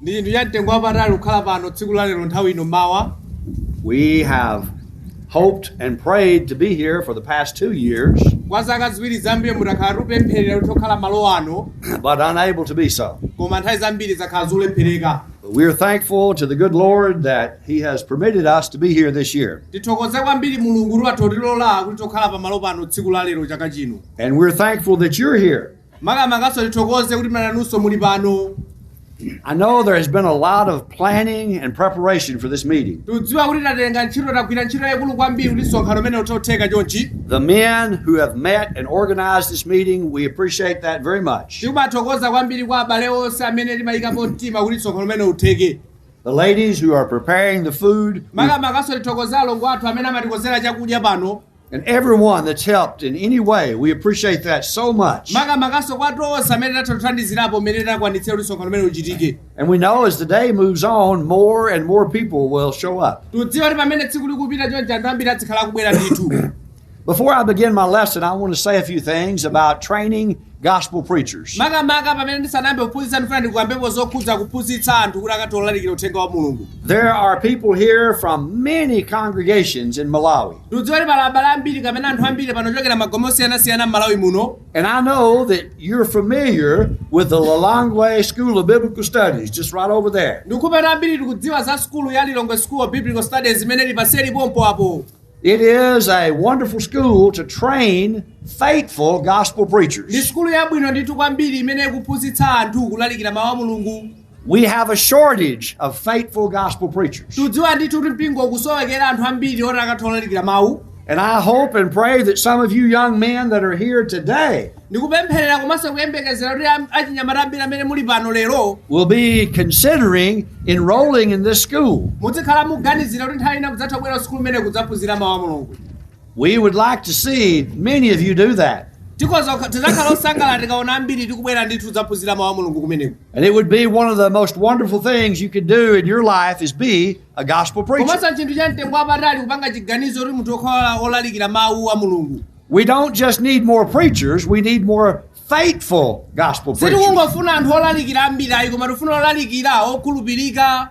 ndi chinthu cha mtengo wapatali kukhala pano tsiku la lero nthawi ino mmawa We have hoped and prayed to be here for the past two years, kwa zaka ziwiri zapitazi takhala tikupempherera kuti tikhale malo ano but unable to be so. koma nthawi zambiri zakhala zolephereka But we are thankful to the good Lord that He has permitted us to be here this year. tithokoze kwambiri mulungu kuti watha kutilola kuti tikhale pamalo pano tsiku la lero chaka chino And we're thankful that you're here. Makamakanso tithokoze kuti nanunso muli pano. I know there has been a lot of planning and preparation for this meeting. Tikudziwa kuti tatenga ntchito tagwira ntchito yayikulu kwambiri kuti msonkhano umenewu utheke chonchi. The men who have met and organized this meeting, we appreciate that very much. Tikuthokoza kwambiri kwa abale onse amene anayikapo mtima kuti msonkhano umenewu utheke. The ladies who are preparing the food, we, Makamakanso tithokoze alongo athu amene amatikonzera chakudya pano. And everyone that's helped in any way, we appreciate that so much. makamakanso kwa tonse amene tatha kuthandizirapo mmene takwanitsira kuti msonkhano umenewu uchitike And we know as the day moves on, more and more people will show up. tikudziwa kuti pamene tsiku likupita chonchi anthu ambiri azikhala akubwera ndithu Before I begin my lesson, I want to say a few things about training gospel preachers. Makamaka pamene ndisanayambe kuphunzitsa ndifuna ndikambepo zokhudza kuphunzitsa anthu kuti akathe kulalikira uthenga wa Mulungu. There are people here from many congregations in Malawi. Ndikudziwa kuti pali abale ambiri kapena anthu ambiri pano ochokera magome osiyanasiyana m'Malawi muno. And I know that you're familiar with the Lilongwe School of Biblical Studies, just right over there. Ndikukhulupirira ambiri tikudziwa za sukulu ya Lilongwe School of Biblical Studies imene ili paseli pompa apo. It is a wonderful school to train faithful gospel preachers. ndi sukulu yabwino ndithu kwambiri imene ikuphunzitsa anthu kulalikira mawu a mulungu We have a shortage of faithful gospel preachers. tikudziwa ndithu kuti mpingo ukusowekera anthu ambiri oti akathe kulalikira mawu And I hope and pray that some of you young men that are here today Ndikupempherera komanso kuyembekezera kuti am- achinyamata ambiri amene muli pano lero will be considering enrolling in this school. muzikhala mukuganizira kuti nthawi ina mudzathe kubwera kusukulu imeneyi kudzaphunzira mawu a mulungu We would like to see many of you do that. tikoza tidzakhala osangalala tikaona ambiri tikubwera ndithu kudzaphunzira mawu a mulungu kumeneko And it would be one of the most wonderful things you could do in your life is be a gospel preacher. komanso ndi chinthu cha mtengo wapatali kupanga chiganizo kuti munthu ukhale olalikira mawu a mulungu We don't just need more preachers, we need more faithful gospel preachers. sitikungofuna anthu olalikira ambiri ayi koma tikufuna olalikira okhulupirika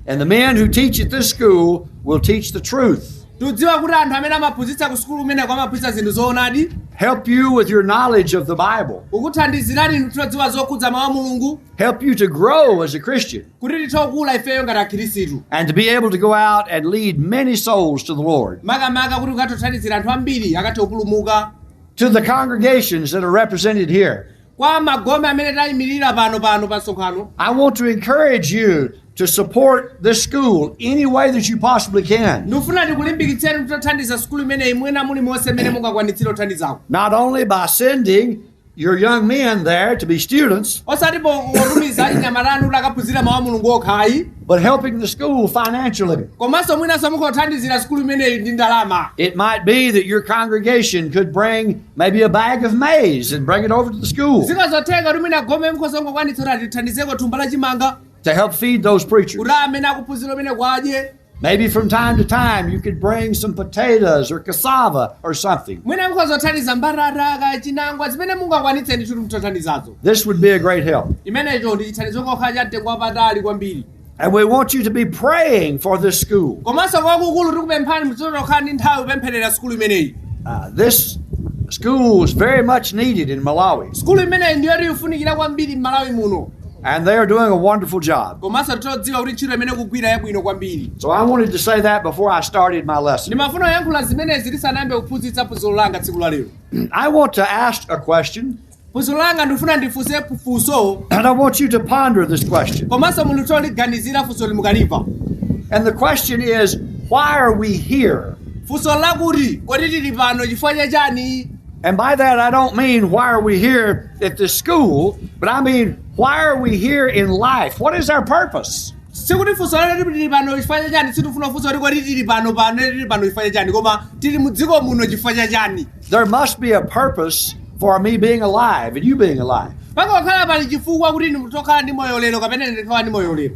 And the men who teach at this school will teach the truth, tikudziwa kuti anthu amene amaphunzitsa ku sukulu kumeneko amaphunzitsa zinthu zoonadi help you with your knowledge of the Bible, kukuthandizirani inu kudziwa zokhudza mawu a mulungu help you to grow as a Christian. kuti tithe kukula ifeyo ngati akhirisitu and to be able to go out and lead many souls to the Lord, makamaka kuti ukathe kuthandizira anthu ambiri akathe kupulumuka to the congregations that are represented here. kwa magome amene tayimirira pano pano pa msonkhano I want to encourage you to support this school any way that you possibly can, ndikufuna ndikulimbikitseni kuti titathandiza sukulu imeneyi mwina mulimonse mmene mungakwanitsire kuthandizako not only by sending your young men there to be students, osati po- potumiza achinyamata anu kuti akaphunzire mawu a mulungu okha ayi but helping the school financially. komanso mwinanso mukhoza kuthandizira sukulu imeneyi ndi ndalama It might be that your congregation could bring maybe a bag of maize and bring it over to the school zikhoza kutheka kuti mwina gome mukhoza kungokwanitsa kuti atithandizeko thumba la chimanga to help feed those preachers. kuti amene akuphunzira kumeneko adye Maybe from time to time you could bring some potatoes or cassava or something. mwina mukhoza kuthandiza mbatata kaya chinangwa zimene mungakwanitse ndithu kuti mutathandiza nazo This would be a great help. chimenecho ndi chithandizo kokha cha mtengo wapatali kwambiri And we want you to be praying for this school. komanso kwakukulu tikupemphani muzitha kukhala ndi nthawi kupempherera sukulu imeneyi Uh, this school is very much needed in Malawi. sukulu imeneyi ndi yoti ikufunikira kwambiri m'Malawi muno And they are doing a wonderful job. komanso tikudziwa kuti ntchito imene akugwira yabwino kwambiri So I wanted to say that before I started my lesson. ndimafuna kuyankhula zimenezi ndisanayambe kuphunzitsa phunziro langa tsiku la lero I want to ask a question, phunziro langa ndikufuna ndifunse funso and I want you to ponder this question. komanso munthu ataliganizira funso ili mukalimva And the question is, why are we here? funso lakuti kodi tili pano chifukwa cha chani And by that, I don't mean why are we here at this school, but I mean why are we here in life? What is our purpose? sikuti funso lero tili pano chifukwa cha chani sindikufunsa funso kuti kodi tili pano pano tili pano chifukwa cha chani koma tili mu dziko muno chifukwa cha chani There must be a purpose for me being alive and you being alive. payenera kukhala pali chifukwa kuti ndikhala ndi moyo lero kapena ndikhala ndi moyo lero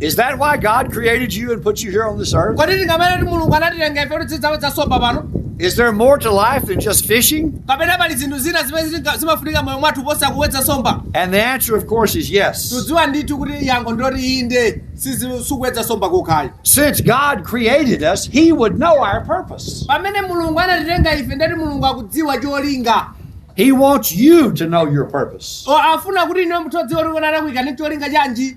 Is that why God created you and put you here on this earth? kodi tinganene kuti mulungu anatilenga ife kuti tizidzawedza nsomba pano Is there more to life than just fishing? kapena pali zinthu zina zimene zitinga- zimafunika moyo mwathu kuposa kuwedza nsomba And the answer, of course, is yes. tikudziwa ndithu kuti yankho ndiloti inde sizi- sikuwedza nsomba kokha ayi Since God created us, He would know our purpose. pamene mulungu anatilenga ife ndiye kuti mulungu akudziwa cholinga He wants you to know your purpose. O, afuna kuti iwe munthu udziwe kuti kuti anakuika ndi cholinga chanji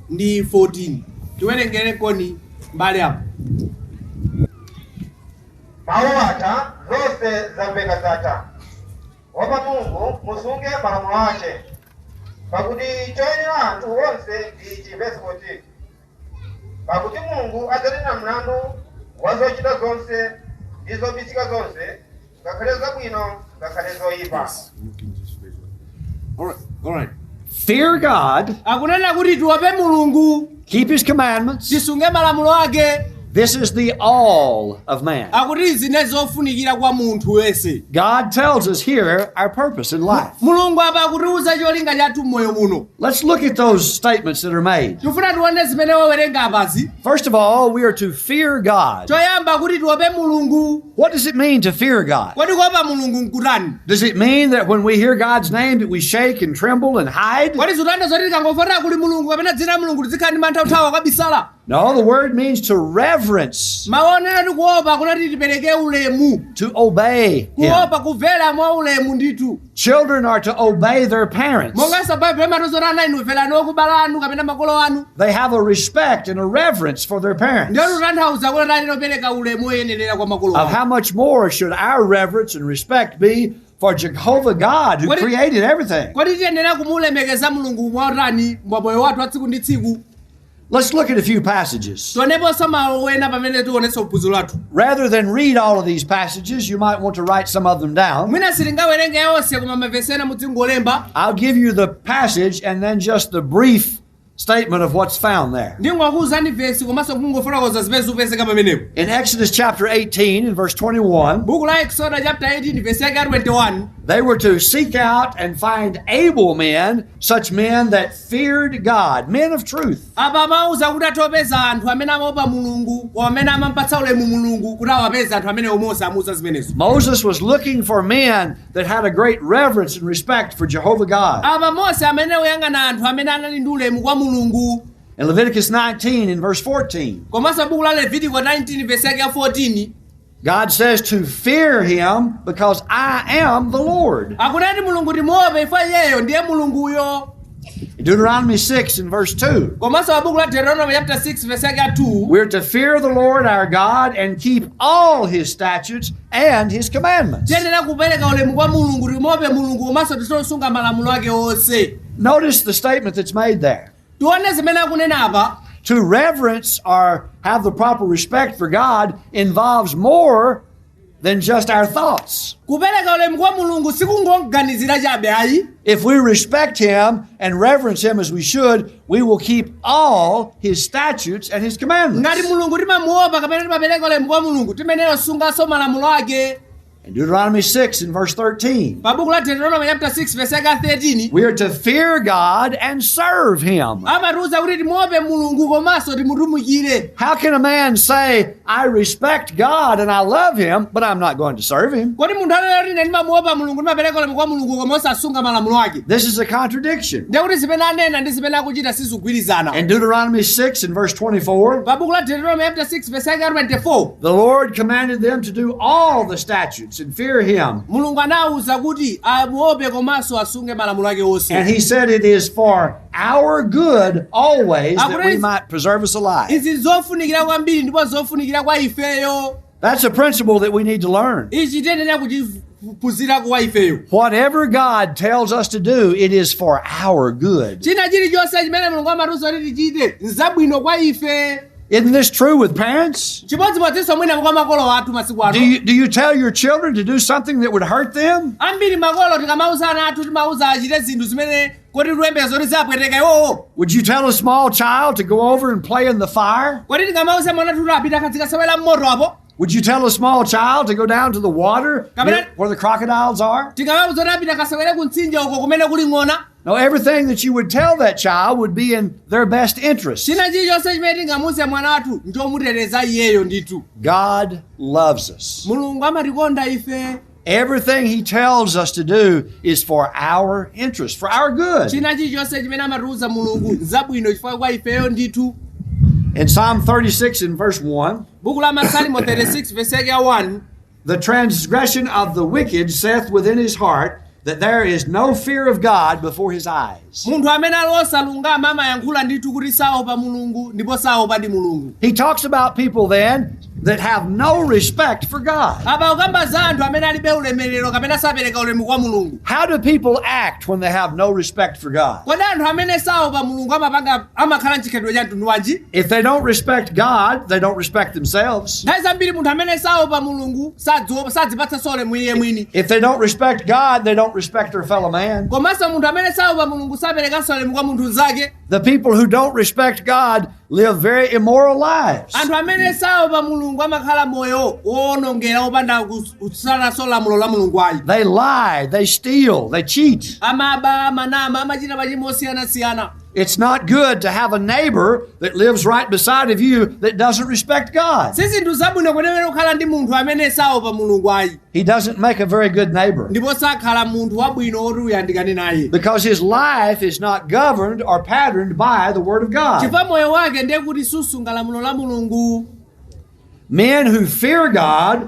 ndi 14. Tiwerengereniko mbale apo. Mawu atha, zonse zamveka zatha. Opa Mulungu, musunge malamulo ace, pakuti coyenera anthu onse ndi ici, vesi 14, Pakuti Mulungu adzanena mlandu wa zocita zonse ndi zobisika zonse, ngakhale zabwino ngakhale zoyipa Yes, you can just raise your hand. All right, all right. Fear God, akunena kuti tiope mulungu keep his commandments. tisunge malamulo ake This is the all of man. akuti ndizimene zofunikira kwa munthu wense God tells us here our purpose in life. mulungu apa akutiuza cholinga chathu mmoyo muno Let's look at those statements that are made. tifuna tione zimene wawerenga apazi First of all, we are to fear God. choyamba kuti tiope mulungu What does it mean to fear God? kodi kuopa mulungu nkutani Does it mean that when we hear God's name that we shake and tremble and hide? kodi zitanthauza zoti tikangomva kuti kuli mulungu kapena dzina la mulungu tizikhala ndi mantha kuthawa kukabisala No, the word means to reverence, mau onena kuti kuopa akunena kuti tipereke ulemu to obey Him. kuopa kumvera mwa ulemu ndithu Children are to obey their parents. monganso baibulo imatiuza kuti ana inu mverani okubala anu kapena makolo anu They have a respect and a reverence for their parents. ndiye zitanthauza kuti ana ayenera kupereka ulemu woyenerera kwa makolo awo Of how much more should our reverence and respect be for Jehovah God who created everything? kodi tiyenera kumulemekeza mulungu mwautani mwa moyo wathu wa tsiku ndi tsiku Let's look at a few passages. tioneponso malo ena amene tione za phunziro lathu Rather than read all of these passages, you might want to write some of them down. mwina sitingawerenge yonse koma mavesi ena mudzingolemba I'll give you the passage and then just the brief statement of what's found there. ndingokuwuzani vesi komanso kungofotokoza zimene zikupezeka pamenepo In Exodus chapter 18 and verse 21, buku la eksoda chapter 18 vesi yake ya 21 they were to seek out and find able men such men that feared God, men of truth, apa amauza kuti akapeze anthu amene amaopa mulungu amene amampatsa ulemu mulungu kuti awapeze anthu amenewo mose amauza zimenezo Moses was looking for men that had a great reverence and respect for Jehovah God. apa mose amene akuyang'ana anthu amene anali ndi ulemu kwa mulungu In Leviticus 19 and verse 14, komanso buku la levitiko 19 vesi yake ya 14 God says to fear him because I am the Lord. akunena kuti mulungu timuope ife iyeyo ndiye mulunguyo Deuteronomy 6 and verse 2. komanso buku la deuteronomy chapter 6 verse yake ya 2 We're to fear the Lord our God and keep all his statutes and his commandments. tiyenera kupereka ulemu kwa mulungu timuope mulungu komanso tisunge malamulo ake onse Notice the statement that's made there. tione zimene akunena apa To reverence or have the proper respect for God involves more than just our thoughts. kupereka ulemu kwa mulungu sikungoganizira chabe ayi If we respect Him and reverence Him as we should, we will keep all His statutes and His commandments. ngati mulungu timamuopa kapena timapereka ulemu kwa mulungu tiyenera kusunganso malamulo ake In Deuteronomy 6 and verse 13, pa buku la deuteronomy chapter 6 verse yake 13 we are to fear God and serve Him. amatiuza kuti timuope mulungu komanso timutumikire How can a man say, I respect God and I love Him, but I'm not going to serve Him? kodi munthu anena kuti ine ndimamuopa mulungu ndimapereka ulemu kwa mulungu koma osasunga malamulo ake This is a contradiction. ndiye kuti zimene anena ndi zimene akuchita sizikugwirizana In Deuteronomy 6 and verse 24, pa buku la deuteronomy chapter 6 verse yake 24 The Lord commanded them to do all the statutes and fear him. mulungu anawawuza kuti amuope komanso asunge malamulo ake onse And he said, It is for our good always that we might preserve us alive. izi nzofunikira kwambiri ndipo zofunikira kwa ifeyo That's a principle that we need to learn. ichi tiyenera kuchiphunzira kwa ifeyo Whatever God tells us to do, it is for our good. china chilichonse chimene mulungu amatiuza kuti tichite nzabwino kwa ife Isn't this true with parents? chimodzimodzinso mwinango kwa makolo athu masiku ano Do you tell your children to do something that would hurt them? ambiri makolo tikamauza ana athu timauza achite zinthu zimene kodi tiwembe zoti ziwapweteka iwowo Would you tell a small child to go over and play in the fire? kodi tikamauza mwana wathu kuti apite akadzikasewera mmoto apo Would you tell a small child to go down to the water where the crocodiles are? tingamauza kuti apite akasewere ku mtsinje uko kumene kuli ng'ona No, everything that you would tell that child would be in their best interest. china chilichonse chimene tingamuuze mwana wathu nchomuteteza iyeyo ndithu God loves us. mulungu amatikonda ife Everything he tells us to do is for our interest, for our good. china chilichonse chimene amatiuza mulungu nzabwino chifukwa kwa ifeyo ndithu In Psalm 36 and verse 1, buku la masalimo 36 vesi yake ya 1 the transgression of the wicked saith within his heart that there is no fear of God before his eyes. Munthu amene ali wosalungama amayankhula ndithu kuti saopa Mulungu ndipo saopadi Mulungu. He talks about people then that have no respect for God. Apa akukamba za anthu amene alibe ulemerero kapena sapereka ulemu kwa Mulungu. How do people act when they have no respect for God? Kodi anthu amene saopa Mulungu amapanga amakhala mchikhalidwe cha mtundu wanji? If they don't respect God, they don't respect themselves. Nthawi zambiri munthu amene saopa Mulungu sadziwopa sadzipatsanso ulemu iye mwini If they don't respect God, they don't respect their fellow man. komanso munthu amene saopa mulungu saperekanso ulemu kwa munthu mnzake The people who don't respect God live very immoral lives. anthu amene saopa mulungu amakhala moyo woonongera wopanda kusunganso lamulo la mulungu ayi They lie, they steal, they cheat. amaba amanama amachita machimo osiyanasiyana It's not good to have a neighbor that lives right beside of you that doesn't respect God. si zinthu zabwino kwenikweni kukhala ndi munthu amene saopa mulungu ayi He doesn't make a very good neighbor ndipo sakhala munthu wabwino woti uyandikane naye because his life is not governed or patterned by the Word of God. chifukwa moyo wake ndiye kuti susunga lamulo la mulungu Men who fear God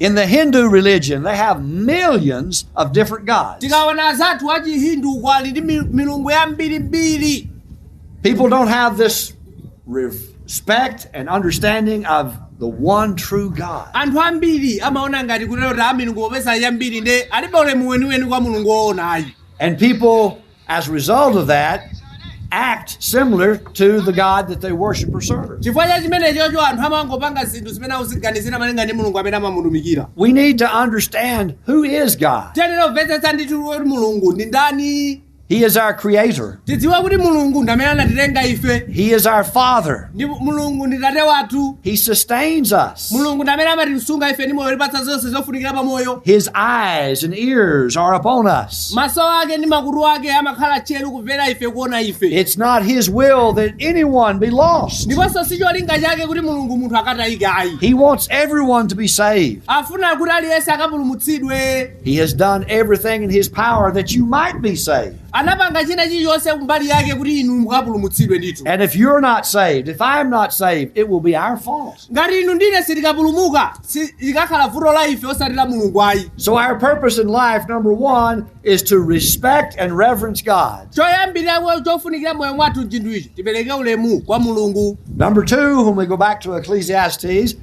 In the Hindu religion, they have millions of different gods. tikaona anzathu a chihindu uko ali ndi mi- milungu yambirimbiri People don't have this respect and understanding of the one true God. anthu ambiri amaona ngati kutero kuti milungu popeza yambiri nde alibe ulemu weniweni kwa mulungu woona ayi And people As a result of that, act similar to the God that they worship or serve. chifukwa cha chimenechocho anthu amangopanga zinthu zimene akuziganizira malinga ndi mulungu amene amamutumikira We need to understand who is God. tiyenera kumvetsetsa ndithu kuti mulungu ndi ndani He is our creator. tidziwe kuti mulungu ndi amene anatilenga ife He is our father. ndi mulungu ndi tate wathu He sustains us. mulungu ndi amene amatisunga ife ndi moyo kutipatsa zonse zofunikira pa moyo His eyes and ears are upon us. maso ake ndi makutu ake amakhala tcheru kumvera ife kuona ife It's not His will that anyone be lost. ndiponso si cholinga chake kuti mulungu munthu akatayike ayi He wants everyone to be saved. afuna kuti aliyense akapulumutsidwe He has done everything in His power that you might be saved. anapanga china chilichonse kumbali yake kuti inu mukapulumutsidwe ndithu And if you're not saved, if I'm not saved, it will be our fault. ngati inu ndine sitikapulumuka si- likakhala vuto la ife osati la mulungu ayi So, our purpose in life, number one, is to respect and reverence God. choyambirira kwa- chofunikira moyo mwathu chinthu ichi tipereke ulemu kwa mulungu Number two, when we go back to Ecclesiastes,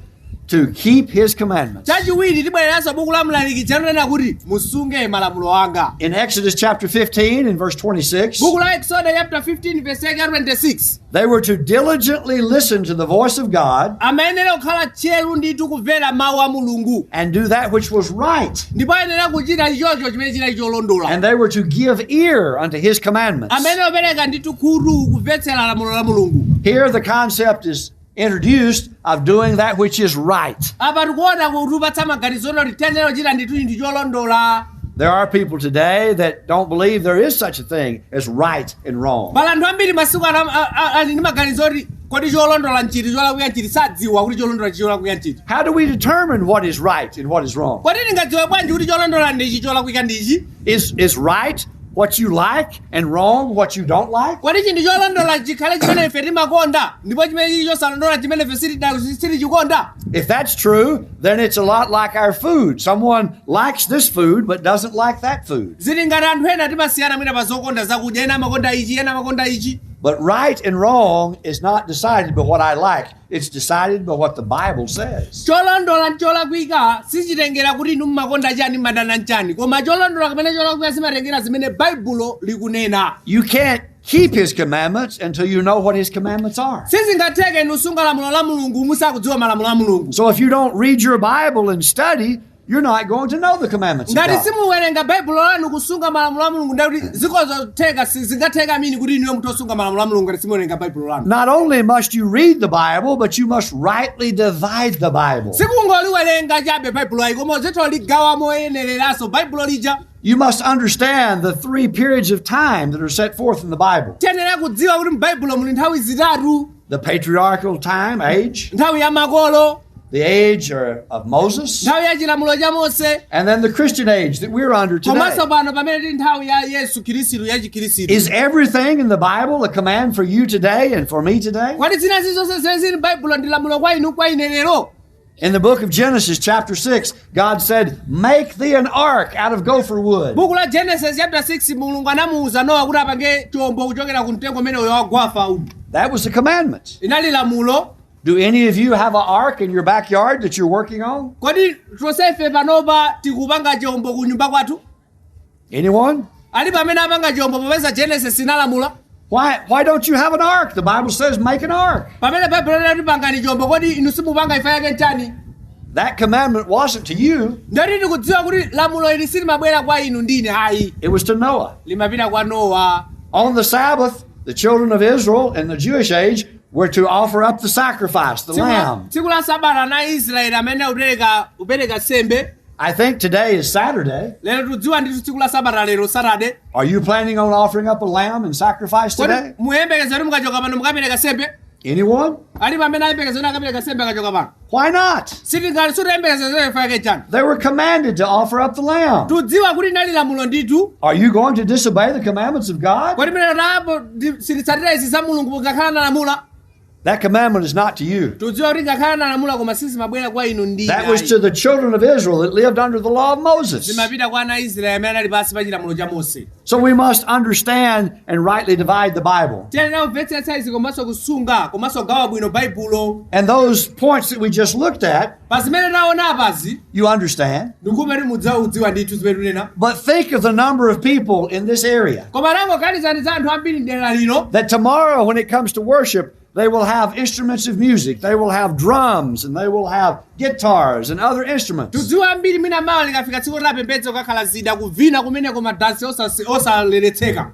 to keep his commandments. chachiwiri tibwereranso buku la mlaliki likunena kuti musunge malamulo anga In Exodus chapter 15 and verse 26, buku la eksodo chapter 15 verse yake ya 26 they were to diligently listen to the voice of God amayenera kukhala tcheru ndithu kumvera mawu a mulungu and do that which was right. ndipo ayenera kuchita ichocho chimene chinali cholondola And they were to give ear unto his commandments. amayenera kupereka ndithu khutu kumvetsera lamulo la mulungu Here the concept is introduced of doing that which is right. apa tikuona kutipatsa maganizo oti tiyenera kuchita ndithu chinthu cholondola There are people today that don't believe there is such a thing as right and wrong. pali anthu ambiri masiku ano am- a- a- ali ndi maganizo oti kodi cholondola nchiti cholakwika nchiti sadziwa kuti cholondola chi cholakwika nchiti How do we determine what is right and what is wrong? kodi tingadziwe bwanji kuti cholondola ndichi cholakwika ndichi Is, is right what you like? and wrong, what you don't like, kodi chinthu cholondola chikhale chimene ife timakonda ndipo chimene chili chosalondola chimene ife sitida- sitichikonda if that's true, then it's a lot like our food. Someone likes this food but doesn't like that food. zili ngati anthu ena timasiyana mwina pa zokonda zakudya ena amakonda ichi ena amakonda ichi But right and wrong is not decided by what I like It's decided by what the Bible says. cholondola ndi cholakwika sichitengera kuti inu mmakonda chani madana nchani koma cholondola kapena cholakwika zimatengera zimene baibulo likunena You can't keep his commandments until you know what his commandments are. sizingatheke inu kusunga lamulo la mulungu musakudziwa malamulo a mulungu So if you don't read your Bible and study, You're not going to know the commandments of ngati God. simuwerenga baibulo lanu kusunga malamulo a mulungu ndakuti zikozotheka si- zingatheka amini kuti inuyo nkutha kusunga malamulo a mulungu ngati simuwerenga baibulo lanu Not only must you read the Bible, but you must rightly divide the Bible. sikungoliwerenga chabe baibulo ayi koma uzitha kuligawa moyenereranso baibulo lija You must understand the three periods of time that are set forth in the Bible. tiyenera kudziwa kuti m'baibulo muli nthawi zitatu The patriarchal time, age, nthawi ya makolo the age or- of Moses, nthawi ya chilamulo cha mose and then the Christian age that we're under today. komanso pano pamene tili nthawi ya yesu khristu ya chikhristu Is everything in the Bible a command for you today and for me today? kodi zina zilizonse zimene zili m'baibulo ndi lamulo kwa inu kwa ine lero In the book of Genesis, chapter 6, God said, Make thee an ark out of gopher wood. buku la genesis chapter 6 mulungu anamuwuza nowa kuti apange chombo kuchokera ku mtengo umene uyo wa gofa uyu That was the commandment. inali lamulo Do any of you have an ark in your backyard that you're working on? kodi tonsefe panopa tikupanga chombo ku nyumba kwathu Anyone? alipo amene apanga chombo popeza genesis inalamula Why, why don't you have an ark? The Bible says make an ark. pamene baibulo linati pangani chombo kodi inu simupanga chifukwa chake nchani That commandment wasn't to you, ndithu tikudziwa kuti lamulo ili silimabwera kwa inu ndi ine ayi it was to Noah. limapita kwa nowa On the Sabbath, the children of Israel in the Jewish age were to offer up the sacrifice, the Tsiku la- lamb. tsiku la sabata ana a israeli amayenera kupereka kupereka nsembe I think today is Saturday. lero tikudziwa ndithu tsiku la sabata lero saturday Are you planning on offering up a lamb and sacrifice kodi today? muyembekeza kuti mukachoka pano mukapereka nsembe Anyone? alipo amene ayembekeza kuti akapereka nsembe akachoka pano Why not? sitingati sitiyembekeza chifukwa chake nchani They were commanded to offer up the lamb. tikudziwa kuti linali lamulo ndithu Are you going to disobey the commandments of God? kodi ndiye tapo sititsatira izi za mulungu ngakhale analamula That commandment is not to you. tikudziwa kuti ngakhale analamula koma sizimabwera kwa inu ndi That was to the children of Israel that lived under the law of Moses. zimapita kwa ana a israeli amene anali pansi pa chilamulo cha mose So we must understand and rightly divide the Bible. tiyenera kumvetsetsa izi komanso kusunga komanso kugawa bwino baibulo And those points that we just looked at pa zimene taona apazi You understand? ndikhulupirira kuti mudziwa kudziwa ndithu zimene tunena But think of the number of people in this area koma tangoganizani za anthu ambiri mdera lino that tomorrow, when it comes to worship, they will have instruments of music. They will have drums and they will have guitars and other instruments. tidziwa ambiri mwina mawa likafika tsiku lopembedza kukakhala zida kuvina kumeneko madansi osasi- osaletseka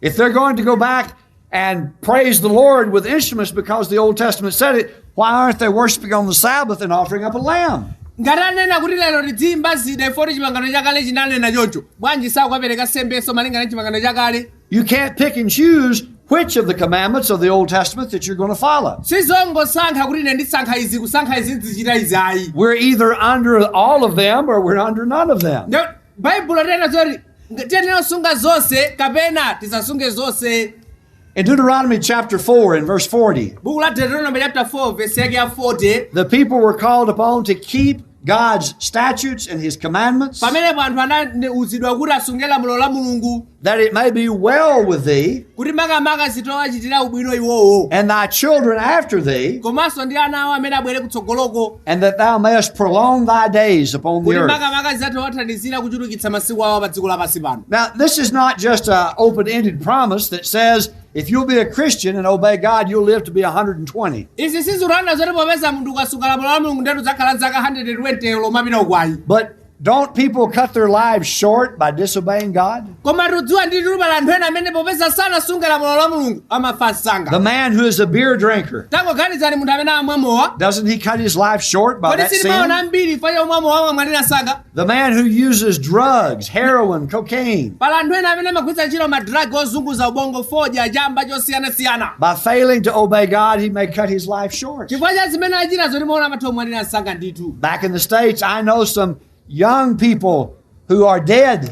If they're going to go back and praise the Lord with instruments because the Old Testament said it, why aren't they worshiping on the Sabbath and offering up a lamb? ngati anena kuti lero tidziyimba zida chifukwa choti chipangano chakale chinanena choncho bwanji sakukapereka sembeso malingana ndi chipangano chakale You can't pick and choose which of the commandments of the Old Testament that you're going to follow. sizongosankha kuti ine ndisankha izi kusankha izi ndizichita izi ayi We're either under all of them or we're under none of them. Nde- baibulo linena zoti tiyenera kusunga zonse kapena tisasunge zonse In Deuteronomy chapter 4 and verse 40, buku la deuteronomy chapter 4 verse yake ya 40 the people were called upon to keep God's statutes and his commandments. pamenepo anthu anauzidwa kuti asunge lamulo la mulungu that it may be well with thee kuti makamaka zitawachitira ubwino iwowo and thy children after thee, komanso ndi ana awo amene abwere kutsogoloko and that thou mayest prolong thy days upon the kuti earth. makamaka zitawathandizira kuchulukitsa masiku awo pa dziko lapansi pano Now, this is not just an open ended promise that says, if you'll be a Christian and obey God, you'll live to be 120. izi sizikutanthauza zoti popeza munthu ukasunga lamulo la mulungu ndeti udzakhala zaka 120 kumapita uko ayi But Don't people cut their lives short by disobeying God? koma tidziwa ndithu pali anthu ena amene popeza sanasunge lamulo la mulungu amafa msanga The man who is a beer drinker, tangoganizani munthu amene amamwa mowa doesn't he cut his life short by kodi that sitimaona sin? ambiri chifukwa yomwa mowa amamwalira msanga The man who uses drugs, heroin, cocaine, pali anthu ena amene amagwiritsa ntchito madragi ozunguza ubongo fodya chamba zosiyanasiyana by failing to obey God, he may cut his life short. chifukwa cha zimene achitazo timaona amatha kumwalira msanga ndithu Back in the States, I know some young people who are dead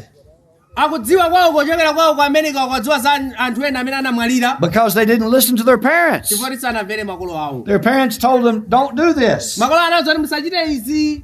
akudziwa kwawo kochokera kwawo ku america akudziwa za an- anthu ena amene anamwalira because they didn't listen to their parents. chifukwa sanamvere makolo awo Their parents told them, don't do this. makolo anawauza kuti musachite izi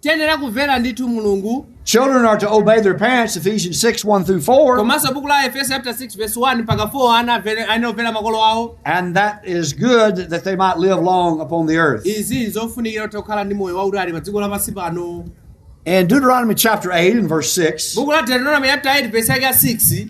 tiyenera kumvera ndithu mulungu Children are to obey their parents, Ephesians 6 1 through 4. komanso buku la aefeso chapter 6 verse 1 mpaka 4 ana avere- ayenera kumvera makolo awo And that is good that they might live long upon the earth. izi nzofunikira kuti akhale ndi moyo wautali pa dziko lapansi pano In Deuteronomy chapter 8 and verse 6, buku la deuteronomy chapter 8 verse yake ya 6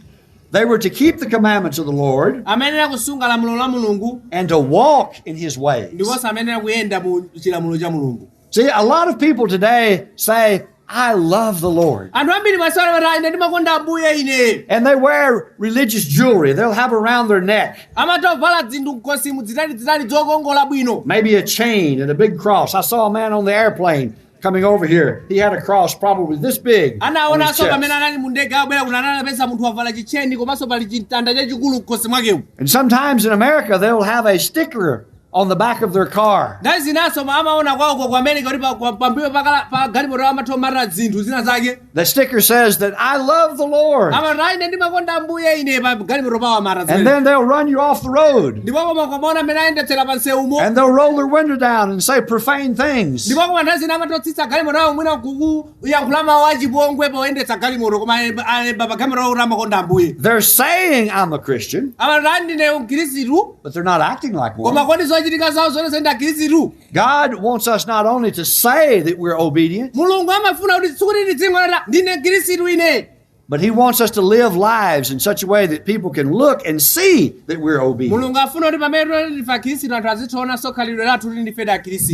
they were to keep the commandments of the Lord amayenera kusunga lamulo la mulungu and to walk in his ways. ndiponso amayenera kuyenda mu chilamulo cha mulungu See, a lot of people today say, I love the Lord. anthu ambiri masiku ano amati ine ndimakonda ambuye ine And they wear religious jewelry they'll have around their neck, amatha kuvala zinthu mkhosimu zitalizitali zokongola bwino maybe a chain and a big cross. I saw a man on the airplane coming over here. He had a cross probably this big. on his anaonanso chest. pamene anali mu ndege abwera kuno anapeza munthu wavala chitcheni komanso pali chimtanda chachikulu mkhosi mwakemo And sometimes in America, they'll have a sticker on the back of their car. nthawi zinanso amaona kwawoko ku america kuti pa- kwa- pambuyo pakala- pa galimoto awo amatha kumatira zinthu zina zake The sticker says that I love the Lord. amati ayi ine ndimakonda ambuye ine pa galimoto pawo amata And zimene then they'll run you off the road. ndipo koma kumaona mmene ayendetsera pa nsewumo And they'll roll their window down and say profane things. ndipo koma nthawi zina amatha kutsitsa galimoto awo mwina kuku- kuyankhula mawu achipongwe poyendetsa galimoto koma alemba- alemba pa galimoto kuti amakonda ambuye They're saying I'm a Christian, amati ndine mkhristu but they're not acting like koma one. kodi zochitika zawo zionetse ndi akhristu God wants us not only to say that we're obedient, mulungu amafuna kuti sikuti tizingonena ndine mkhristu ine But he wants us to live lives in such a way that people can look and see that we're obedient. mulungu afuna kuti pamene tili ndife akhristu anthu azitiwonanso khalidwe lathu kuti ndife akhristu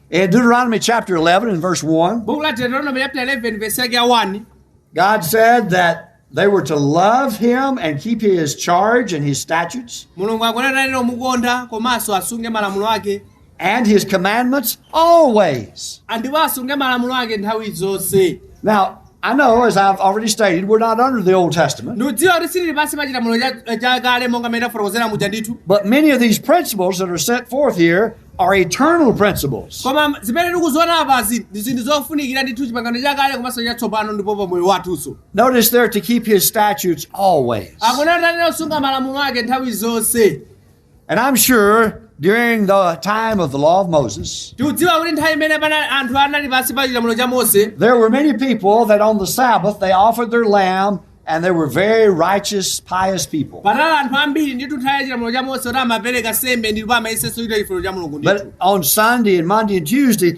In Deuteronomy chapter 11 and verse 1, buku la deuteronomy chapter 11 verse yake ya 1 God said that they were to love him and keep his charge and his statutes. mulungu akunena kuti amukonde komanso asunge malamulo ake and his commandments always. ndipo asunge malamulo ake nthawi zonse Now, I know, as I've already stated, we're not under the Old Testament, ndikudziwa kuti sitili pansi pa chilamulo cha- chakale monga mmene tafotokozera muja ndithu but many of these principles that are set forth here are eternal principles. koma zimene tikuziona apazi ndi zinthu zofunikira ndithu chipangano chakale komanso chatsopano ndipo pa moyo wathunso Notice there to keep his statutes always. akunena kunena kusunga malamulo ake nthawi zonse And I'm sure during the time of the law of Moses, tikudziwa kuti nthawi imene pana anthu anali pansi pa chilamulo cha mose there were many people that on the Sabbath they offered their lamb and they were very righteous, pious people. panali anthu ambiri ndithu nthawi ya chilamulo cha mose kuti amapereka nsembe ndipo amayesetsa kuchita chifuniro cha mulungu ndithu But on Sunday and Monday and Tuesday,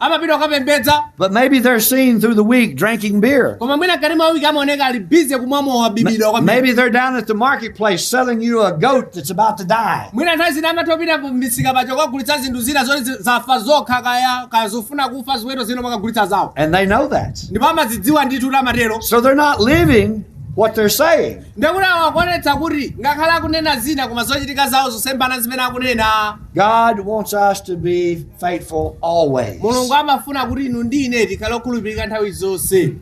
amapita kukapembedza But maybe they're seen through the week drinking beer. koma mwina mkati mwa wiki amaoneka ali bize kumwa mowa bibida kwambiri Maybe they're down at the marketplace selling you a goat that's about to die. mwina nthawi zina amatha kupita misika paja kukagulitsa zinthu zina zoti zi- zafa zokha kaya kaya zofuna kufa ziweto zina amakagulitsa zawo And they know that. ndipo amazidziwa ndithu kuti amatero So they're not living what they're saying. Ndiye kuti awa akuonetsa kuti ngakhale akunena zina koma zochitika zawo zosemphana ndi zimene akunena. God wants us to be faithful always. Mulungu amafuna kuti inu ndi ine tikhale okhulupirika nthawi zonse.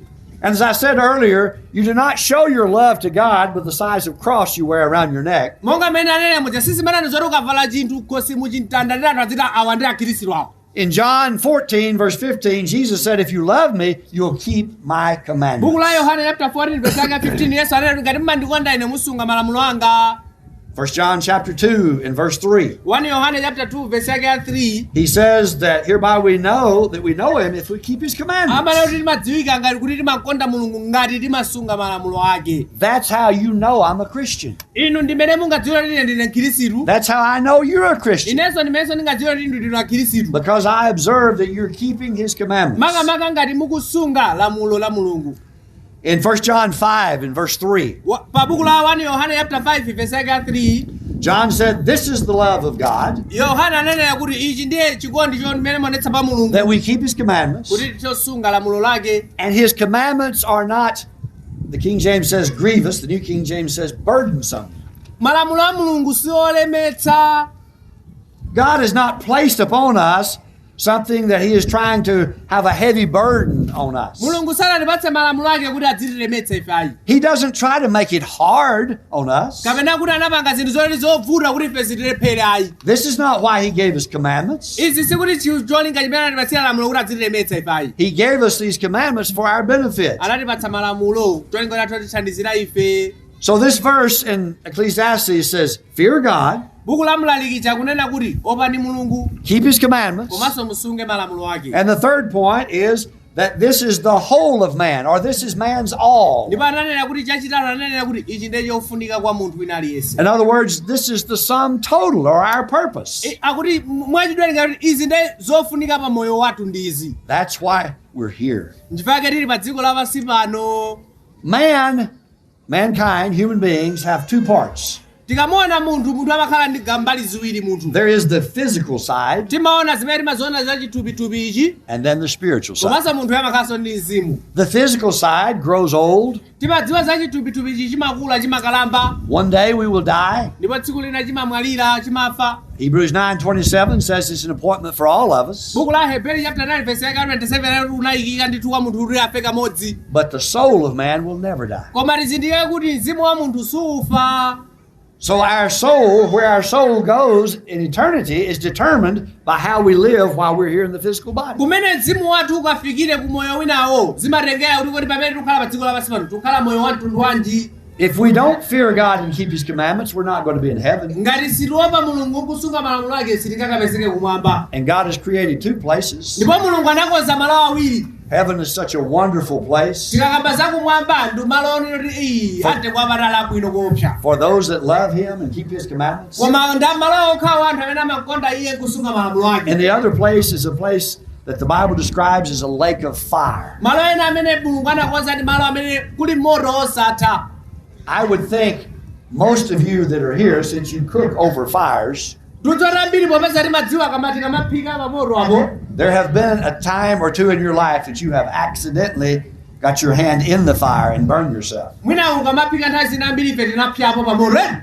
And as I said earlier, you do not show your love to God with the size of cross you wear around your neck. Monga mmene ndanenera muja sizimenezi zoti ukavala chinthu mkhosimu chimtanda ndiye anthu aziti awa ndi akhristu awo. In John 14, verse 15, Jesus said, If you love me, you'll keep my buku la commandments. yohane chapter 14 verse yake 15 yesu anati ngati mmandikonda ine musunge malamulo anga 1 John chapter 2 and verse 3. 1 yohane chapter 2 verse yake ya 3 He says that hereby we know that we know him if we keep his akunena kuti commandments. timadziwika ngati kuti timamkonda mulungu ngati timasunga malamulo ake That's how you know I'm a Christian. Inu ndi mmene mungadziwire kuti ine ndine Mkhirisitu. That's how I know you're a Christian. Inenso ndi mmenenso ndingadziwire kuti inu ndinu Akhirisitu. Because I observe that you're keeping his commandments. Makamaka ngati mukusunga lamulo la Mulungu. In 1 John 5 and verse 3, Wa- Pa buku la 1 Yohane chapter 5 verse yake ya 3, John said, This is the love of God, Yohane ananena kuti ichi ndiye chikondi chimene muonetsa pa Mulungu that we keep his commandments. kuti tizisunga lamulo lake. And his commandments are not The King James says grievous, the New King James says burdensome. malamulo a mulungu si olemetsa God has not placed upon us something that He is trying to have a heavy burden on us. mulungu sanatipatse malamulo ake kuti adzitilemetsa ife ayi He doesn't try to make it hard on us. kapena kuti anapanga zinthu zoti zovuta kuti ife zitilephere ayi This is not why he gave us commandments. izi sikuti chi- cholinga chimene anatipatsira lamulo kuti adzitilemetsa ife ayi He gave us these commandments for our benefit. anatipatsa malamulo cholinga kuti atithandizire ife So this verse in Ecclesiastes says, "Fear God, buku la mlaliki likunena kuti opani mulungu keep his commandments." komanso musunge malamulo ake And the third point is that this is the whole of man, or this is man's all. ndipo ananena kuti chachitatu ananena kuti ichi ndiye chofunika kwa munthu wina aliyense In other words, this is the sum total or our purpose. I- akuti m- mwachidule kuti izi ndiye zofunika pa moyo wathu ndi izi That's why we're here. nchifukwa chake tili pa dziko lapansi pano Man Mankind, human beings, have two parts. tikamaona munthu munthu amakhala ndi ga- mbali ziwiri munthu There is the physical side timaona zimene timaziona za chithupithupi ichi and then the spiritual side. komanso munthu amakhalanso ndi mzimu The physical side grows old. timadziwa za chithupithupi ichi chimakula chimakalamba One day we will die. ndipo tsiku lina chimamwalira chimafa Hebrews 9:27 says it's an appointment for all of us, buku la Aheberi chapter 9 verse yake 27 anati kunayikika ndithu kwa munthu kuti afe kamodzi but the soul of man will never die. koma tizindikire kuti mzimu wa munthu suufa So our soul, where our soul goes in eternity, is determined by how we live while we're here in the physical body. kumene mzimu wathu ukafikire ku moyo winawo zimatengera kuti kodi pamene tikukhala pa dziko lapansi pano tikukhala moyo wa mtundu wanji If we don't fear God and keep His commandments, we're not going to be in heaven. ngati sitiopa mulungu nkusunga malamulo ake sitingakapezeke kumwamba And God has created two places. ndipo mulungu anakonza malo awiri Heaven is such a wonderful place tikakamba za kumwamba ndi malo onena kuti iyi a mtengo wapatali abwino kuopsa for those that love Him and keep His commandments. koma ndi malo okhawo a anthu amene amakonda iye kusunga malamulo ake And the other place is a place that the Bible describes as a lake of fire. malo ena amene mulungu anakonza ndi malo amene kuli moto wosatha I would think most of you that are here, since you cook over fires, ndikuti ambiri popeza timadziwa timati tikamaphika pamoto apo there have been a time or two in your life that you have accidentally got your hand in the fire and burned yourself. mwina ukamaphika nthawi zina ambiri ife tinapyapo pamoto ena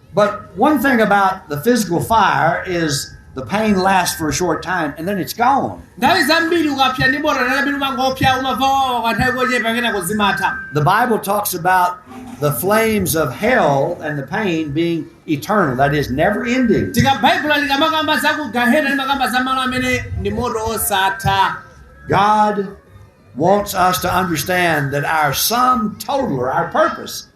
But one thing about the physical fire is the pain lasts for a short time and then it's gone. nthawi zambiri ukapsa ndi moto nthawi zambiri umangopsa umamva kuwawa kwa nthawi yochepa kenako zimatha The Bible talks about the flames of hell and the pain being eternal, that is, never ending. ndiye baibulo likamakamba za ku gahena limakamba za malo amene ndi moto osatha God wants us to understand that our sum total or our purpose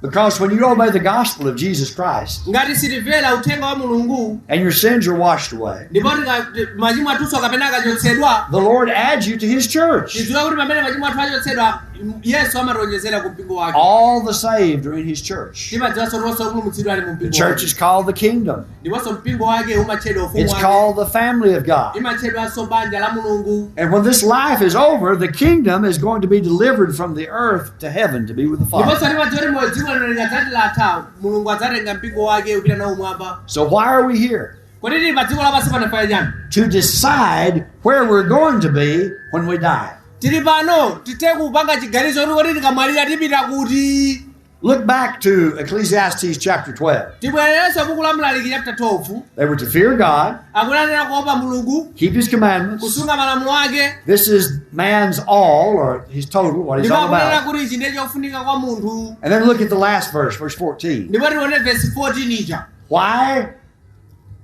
Because when you obey the gospel of Jesus Christ ngati timvera uthenga wa mulungu and your sins are washed away, ndipo tika- ti- machimo athunso kapena akachotsedwa the Lord adds you to His church. tidziwe kuti pamene machimo athu achotsedwa m- yesu amationjezera ku mpingo wake All the saved are in His church. timadziwanso kuti onse opulumutsidwa ali mu The mpingo church wake. is called the kingdom. ndiponso mpingo wake umatchedwa ufumu It's wake called the family of God. imatchedwanso banja la mulungu And when this life is over, the kingdom is going to be delivered from the earth to heaven to be with the Father. ndiponso timadziwa kuti moyo dziko lino likadzati latha mulungu adzatenga mpingo wake kupita nawo kumwamba So why are we here? kodi tili pa dziko lapansi pano chifukwa chani To decide where we're going to be when we die. tili pano tithe kupanga chiganizo kuti kodi tikamwalira tipita kuti Look back to Ecclesiastes chapter 12. tibwererenso buku la mlaliki chapter 12 They were to fear God, akunena kuopa mulungu keep his commandments. kusunga malamulo ake This is man's all, or his total, what he's ndipo all akunena about. kuti ichi ndiye chofunika kwa munthu And then look at the last verse, verse 14. ndipo tione vesi 14 ija Why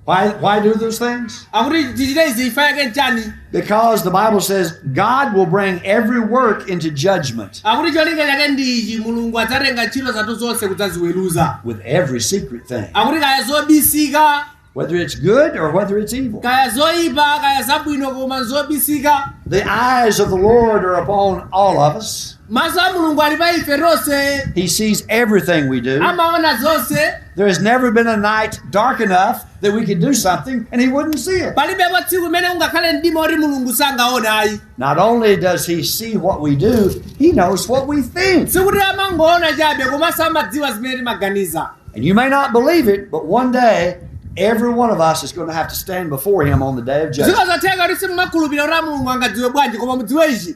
Why, why do those things? Akuti tichite izi chifukwa chake nchani? Because the Bible says God will bring every work into judgment Akuti cholinga chake ndi ichi Mulungu adzatenga ntchito zathu zonse kudzaziweruza. with every secret thing, Akuti kaya zobisika, whether it's good or whether it's evil. kaya zoyipa, kaya zabwino koma zobisika. The eyes of the Lord are upon all of us. Maso a Mulungu ali pa ife tonse. He sees everything we do. Amaona zonse. There has never been a night dark enough that we could do something and he wouldn't see it. Palibepo tsiku limene kungakhale mdima woti Mulungu sangaone ayi. Not only does he see what we do, he knows what we think. Sikuti amangoona chabe komanso amadziwa zimene timaganiza. And you may not believe it, but one day every one of us is going to have to stand before him on the day of judgment. Zikhoza kutheka kuti simumakhulupirira kuti Mulungu angadziwe bwanji koma mudziwe ichi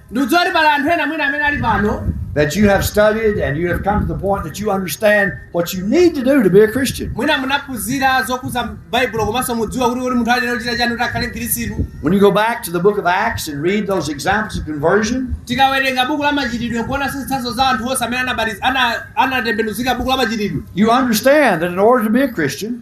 ndikudziwa kuti pali anthu ena mwina amene ali pano that you have studied and you have come to the point that you understand what you need to do to be a Christian. mwina munaphunzira zokhudza baibulo komanso mudziwa kuti kuti munthu ayenera kuchita chani kuti akhale mkhristu When you go back to the book of Acts and read those examples of conversion, tikawerenga buku la machitidwe kuona zitsanzo za anthu onse amene anabatiz- ana- anatembenuzika buku la machitidwe you understand that in order to be a Christian,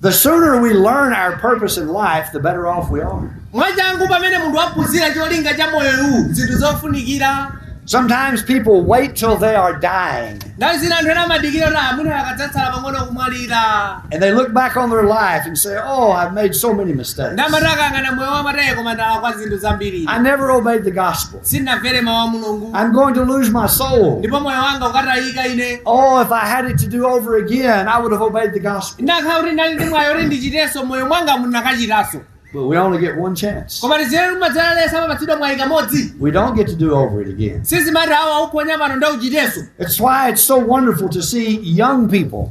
The sooner we learn our purpose in life, the better off we are. mwachangu pamene munthu waphunzira cholinga cha moyo ndi zinthu zofunikira Sometimes people wait till they are dying nthawi zina anthu ena amadikira kuti mwina akadzatsala pang'ono kumwalira and they look back on their life and say, Oh, I've made so many mistakes. nde amati akayang'ana moyo wawo amati koma ndalakwa zinthu zambiri I never obeyed the gospel. sindinamvere mawu a mulungu I'm going to lose my soul. ndipo moyo wanga ukutayika ine Oh, if I had it to do over again, I would have obeyed the gospel. nakakhala kuti ndinali ndi mwayi oti ndichitenso moyo mwanga ndinakachitanso But we only get one chance. koma tizere kumadzera lesa amapatsidwa mwayi kamodzi We don't get to do over it again. sizimati awa waphonya pano nde uchitenso It's why it's so wonderful to see young people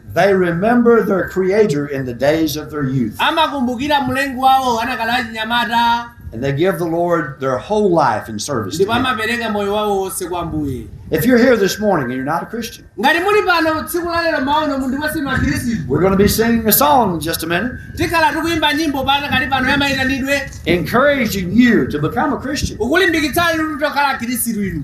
They remember their Creator in the days of their youth, amakumbukira mlengi wawo adakali achinyamata and they give the Lord their whole life in service. To ndipo him. amapereka moyo wawo wonse kwa ambuye If you're here this morning and you're not a Christian, ngati muli pano tsiku la lero mwaona kuti mwina sinu akhristu we're going to be singing a song in just a minute, tikhala tikuyimba nyimbo posakhalitsa pano yamayitanidwe encouraging you to become a Christian. yokulimbikitsani kuti mukhale akhristu inu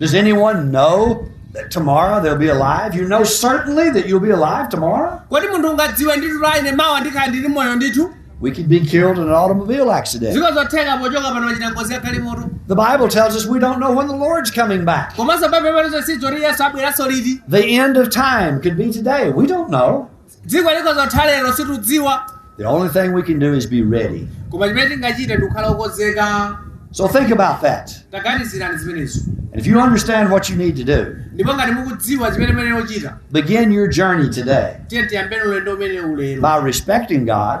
Does anyone know that tomorrow they'll be alive? You know certainly that you'll be alive tomorrow? kodi munthu ungadziwe ndithu kuti ine mawa ndikhala ndili moyo ndithu We could be killed in an automobile accident. ziko zotheka pochoka pano kuchita ngozi ya galimoto The Bible tells us we don't know when the Lord's coming back. komanso pamwamba pa izo sitidziwa kuti yesu abweranso liti The end of time could be today. We don't know. dziko likhoza kutha lero situdziwa The only thing we can do is be ready. koma chimene tingachite ndikukhala okonzeka So think about that. taganizirani zimenezo And if you understand what you need to do, ndipo ngati mukudziwa chimene muyenera kuchita begin your journey today tiyeni tiyambeni ulendo umenewu lero by respecting God,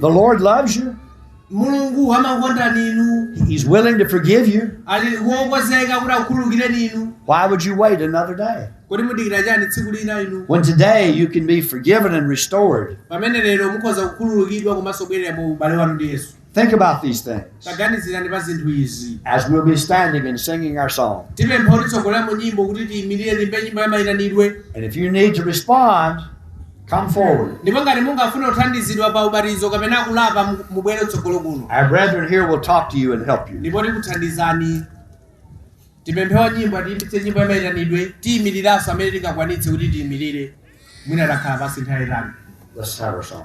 The Lord loves you. mulungu amakondani inu He's willing to forgive you. ali wokonzeka kuti akukhululukireni inu Why would you wait another day? kodi mudikira chani tsiku lina inu When today you can be forgiven and restored. pamene lero mukhoza kukhululukidwa komanso kubwerera mu ubale wanu ndi yesu Think about these things taganizirani pa zinthu izi as we'll be standing and singing our song. tipempha wotitsogolera mu nyimbo kuti tiyimirire tiimbe nyimbo yamayitanidwe And if you need to respond, Come forward. Ndipo ngati mungafune kuthandizidwa pa ubatizo kapena kulapa mu- mubwere kutsogolo kuno. Our brethren here will talk to you and help you. Ndipo tikuthandizani. Tipemphe wa nyimbo atiyimbitse nyimbo yamaitanidwe tiyimiriranso amene tingakwanitse kuti tiyimirire. Mwina takhala pansi nthawi yaitali. Let's have our song.